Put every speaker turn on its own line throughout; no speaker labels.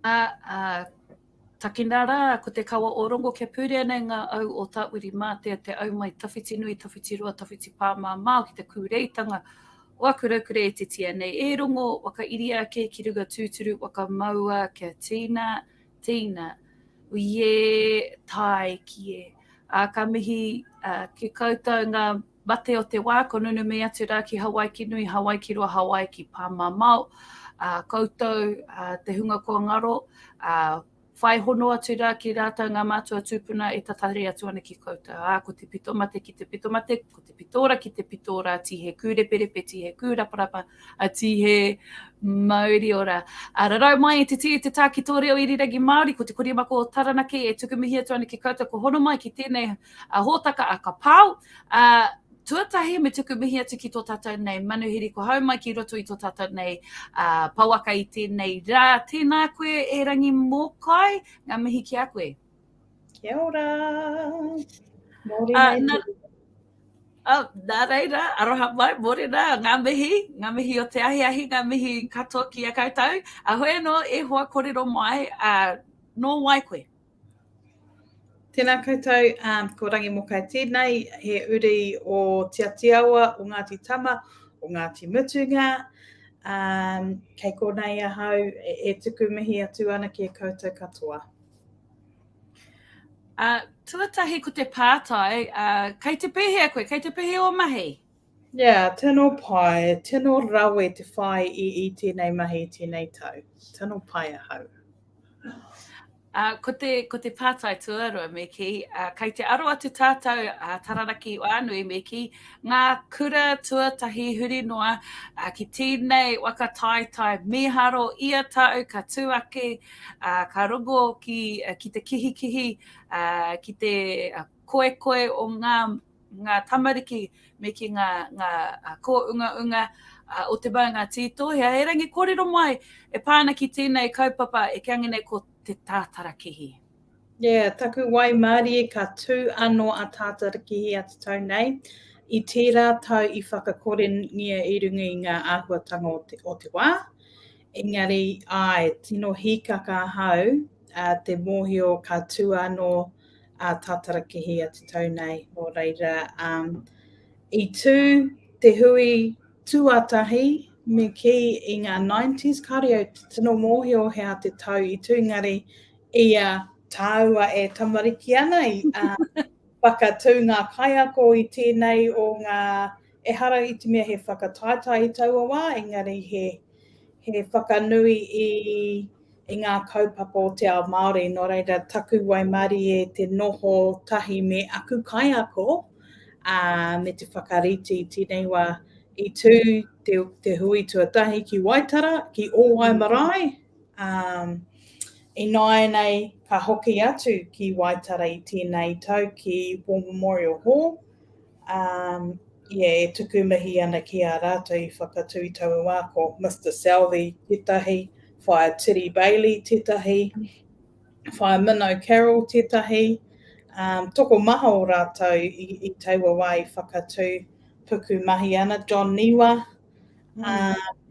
Ā, takina rā, ko te kawa o Rongo kia pūrea nei ngā au o Tāwiri-mātea, te au mai Tawhitinui, Tawhitiroa, Tawhitipāmamao ki te kūreitanga o aku raukura e titia nei. E Rongo, whakairia ake ki runga tūturu, whakamaua kia tīna, tīna. Uiē, tāiki e. Ā, ka mihi ki koutou ngā. mate o te wā, ko Nunumī atu rā ki Hawaiki nui, Hawaiki roa, Hawaiki pāmamao, ā, koutou, ā, te hunga kua ngaro, ā, whai hono atu rā ki rātou ngā mātua tūpuna e tatari atu ana ki koutou, ā, ko te pito mate ki te pito mate, ko te pito ora ki te pito ora, tīhe kūreperepe, tīhe kūraparapa, a Tihe Mauriora. A rarau mai i te tī, te tā ki tō reo irirangi Māori, ko te korimako o Taranaki e tuku mihi atu ana ki koutou ko hono mai ki tēnei a hōtaka a ka pao. A, tuatahi me tuku mihi atu ki tō tātou nei manuhiri ko hau mai ki roto i tō tātou nei a, pawaka i tēnei rā. Tēnā koe e Rangi Mōkai, ngā mihi ki a koe. Kia ora!
Mōrena uh, e
te... Oh, nā reira, aroha mai, mōrena, ngā mihi, ngā mihi o te ahiahi, ngā mihi katoa ki a koutou. A hoi anō, e hoa korero mai, a, nō wai koe?
Tēnā koutou, um, ko Rangi Mokai tēnei, he uri o Te Atiawa, o Ngāti Tama, o Ngāti Mutunga. Um, kei konei ahau e, e tuku mihi atu ana ki e koutou katoa. Uh,
tuatahi ko te pātai, uh, kei te pēhea koe, kei te pēhea o mahi? Yeah, tino
pai, tino rawe te whai i, i tēnei mahi tēnei tau. Tino pai ahau. Uh,
ko, te, ko te pātai tuarua me ki, uh, kei te aro atu tātou a uh, Tararaki Wānui me ki ngā kura tuatahi huri noa uh, ki tēnei waka tāitai mīharo ia tau ka tū ake ā, ka rongo ki, ki te kihikihi, ā, ki te koekoe o ngā, ngā tamariki me ki ngā, ngā kōungaunga o te maunga tītohea. Erangi kōrero mai e pā ana ki tēnei kaupapa e kī ana nei ko Te Tātarakihi. Yeah,
taku waimārie ka tū anō a Tātarakihi atu tau nei, i tērā tau i whakakorengia i runga i ngā āhuatanga o te, o te wā, Engari, āe, tino hīkaka ahau te mōhio ka tū anō a Tātarakihi atu tau nei, nō reira, i tū te hui tuatahi me kī i ngā nineties, kāore au tino mōhio he aha te tau i tū, engari, ia tāua e tamariki ana, i whakatū ngā kaiako i tēnei o ngā, ehara i te mea he whakataetae i taua wā, engari he. He whakanui i ngā kaupapa o te ao Māori, nō reira taku waimarie te noho tahi me aku kaiako me te whakarite i tēnei wā. I tū te hui tuatahi ki Waitara, ki Ōwai marae, ināianei ka hoki atu ki Waitara i tēnei tau ki War Memorial Hall, Um, yeah, e tuku mihi ana ki a rātou i whakatū i taua wā, ko Mr Southey tētahi, Whaia Tiri Bailey tētahi, Whaia Minnow Carroll tētahi, um, toko maha o rātou i, i taua wā i whakatū puku mahi ana, John Niwa,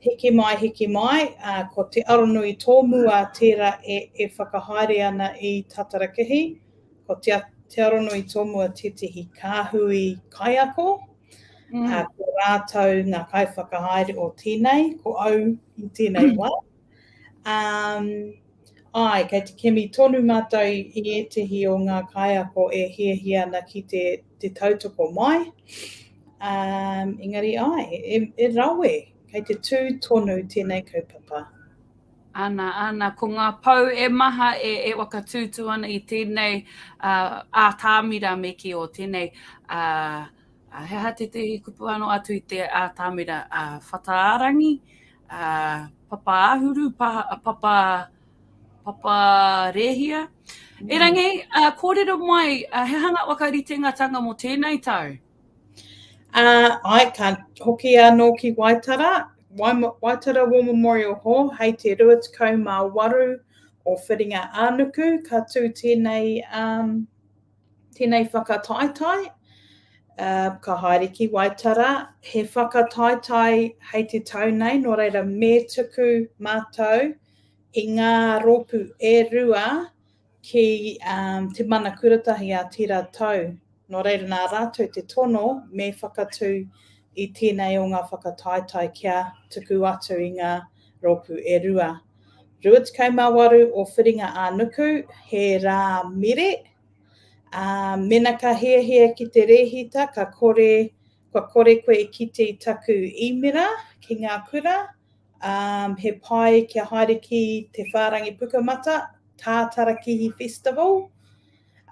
hiki mai, hiki mai, ko Te Aronui Tōmua tērā e whakahaere ana i Tātarakihi, ko Te Aronui Tōmua tētehi kāhui kaiako, ko rātou ngā kaiwhakahaere o tēnei, ko au i tēnei wā. Um, ai, kei te kimi tonu mātou i ētehi o ngā kaiako e hiahia ana ki te, te tautoko mai. Um, engari ai, e, e rawe, kei te tū tonu tēnei kaupapa. Ana,
ana, ko ngā pou e maha e, e wakatūtū ana i tēnei uh, ātāmira me ki o tēnei uh, he aha tētehi kupu anō atu i te ātāmira uh, whataarangi, papa āhuru, papa, papa rēhia. Mm. Erangi, uh, kōrero mai, uh, he hanga whakaritengatanga mō tēnei tau? Uh, ai,
ka hoki anō ki Waitara, Waitara War Memorial Hall, hei te 28 o Whiringa Ānuku, ka tū tēnei um, Tēnei whakataetae, ka haere ki Waitara, he whakataetae hei te tau nei, nō reira me tuku mātou i ngā rōpū e rua ki Te Mana Kuratahi a tērā tau. Nō reira nā rātou te tono me whakatū i tēnei o ngā whakataetae kia tuku atu i ngā rōpū e rua. 28 o Whiringa-ā-nuku, he rā mire, ā, mēnā ka hiahia ki te rēhita, ka kore, kua kore koe e kite i taku īmera ki ngā kura, ā, he pai kia haere ki te whārangi Pukamata, Tātarakihi Festival,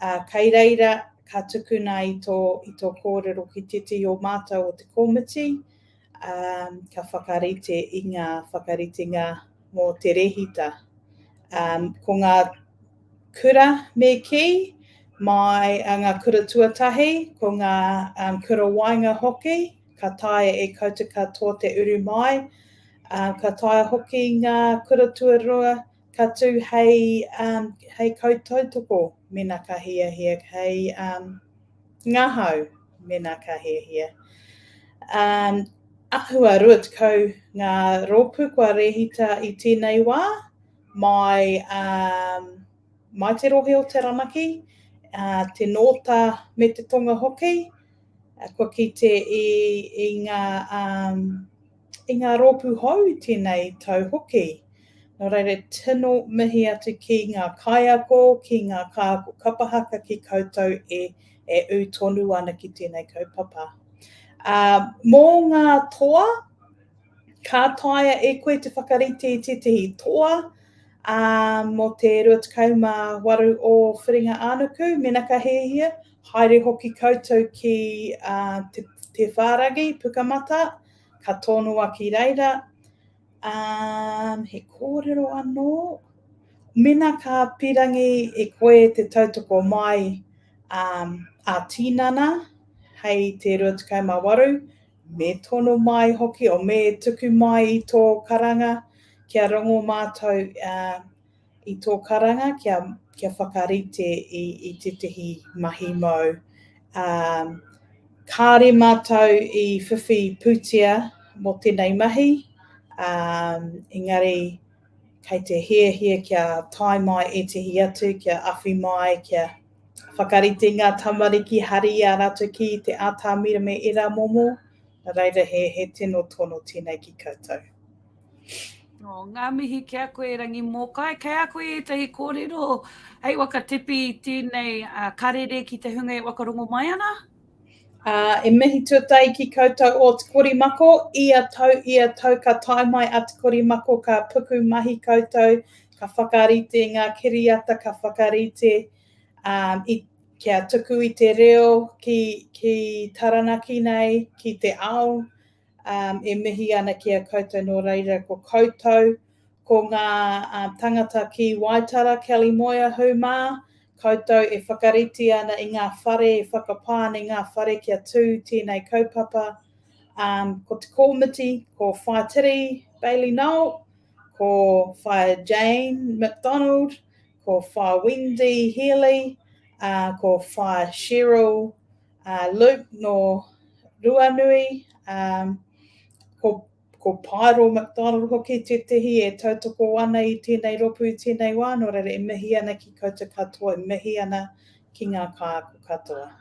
ā, kei reira ka tukuna i tō, i tō kōrero ki tētehi o mātou o te komiti, Ā, ka whakarite i ngā whakaritenga mō te rehita. Ā, ko ngā kura me kī, mai a ngā kura tuatahi, ko ngā um, kura waenga hoki, ka taea e koutou ka tō te uru mai. Ā, ka taea hoki ngā kura tuarua ka tū hei, um, hei kautautoko mena ka hiahia hei um, Ngahau, mēnā ka hiahia. Um, ahua 20 ngā rōpū kua rēhita i tēnei wā, mai, um, mai te rohe o Taranaki, uh, te Nōta me te Tonga hoki, uh, kua kite i, i ngā um, I ngā rōpū hou i tēnei tau hoki. Nō reira, tino mihi atu ki ngā kaiako, ki ngā kāko kapa haka ki koutou e e ū tonu ana ki tēnei kaupapa. Ā, mō ngā toa, ka taea e koe te whakarite i tētahi toa, ā, mō te 28 o Whiringa-ā-nuku, mēnā ka hiahia, haere hoki koutou ki te whāragi, Pukamata, Ka tonoa ki reira, umm, he kōrero anō? Mēnā ka pīrangi e koe te tautoko mai ā-tinana hei te 28, me tono mai hoki, o me tuku mai i tō karanga kia rongo mātou i tō karanga kia, kia whakarite i, i tētahi mahi mau. Um, kāre mātou i whiwhi pūtea mō tēnei mahi, um, engari kei te hiahia kia tae mai ētahi atu, kia awhi mai, kia whakarite ngā tamariki, hari a rātou ki te ātāmira me ērā momo, reira he, he tino tono tēnei ki koutou.
Oh, ngā mihi ki a koe, Rangi Mōkai. Kei a koe ētahi kōrero hei wakatepi i tēnei uh, karere ki te hunga e wakarongo mai ana? Uh,
e mihi tuatai ki koutou o Te Korimako, ia tau, ia tau ka tae mai a Te Korimako, ka puku mahi koutou, ka whakarite ngā kiriata, ka whakarite um, i, kia tuku i te reo ki, ki Taranaki nei, ki te ao, e mihi ana ki a koutou nō reira ko koutou, ko ngā tangata ki Waitara, Kelly Moir, hū mā, koutou e whakarite ana i ngā whare, e whakapā ana i ngā whare kia tū tēnei kaupapa, ko te kōmiti, ko Whaitiri Bailey Noel, ko Whaia Jane McDonald, ko Whaia Wendy Healy, ko Whaia Cheryl A Luke nō Ruanui, a, ko, ko Paero McDonald hoki tētehi e tautoko ana i tēnei ropu i tēnei wā, nō reira e mihi ana ki koutou katoa, e mihi ana ki ngā kāko katoa.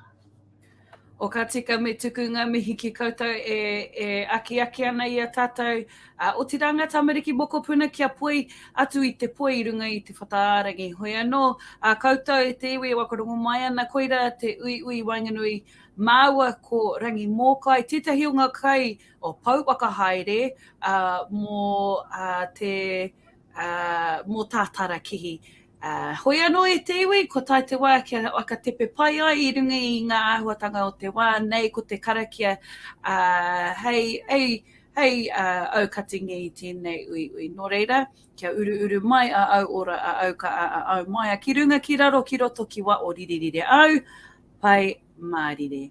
O ka tika me tuku nga mihi ki koutou e, e akiaki ana i a tatou Ā, otirā ngā tamariki mokopuna kia poi atu i te poi i runga i te whataārangi. Hoi anō, ā koutou e te iwi e waka rongo mai ana, koirā te uiui i waenganui māua ko Rangi Mōkai, tētahi o ngā kai o Pouwaka Haere, ā, mō, ā, te mō tā Tara kihi. Hoi anō e te iwi, ko tai te wā kia whakatepe pai ai i runga i ngā āhuatanga o te wā, nei ko te karakia hei aukati nei i tēnei uiui. Nō reira, kia uruuru mai a au ora, a au ka'a, a au maea ki runga, ki raro, ki roto, ki waʻo, riririre au, Pai Mārire.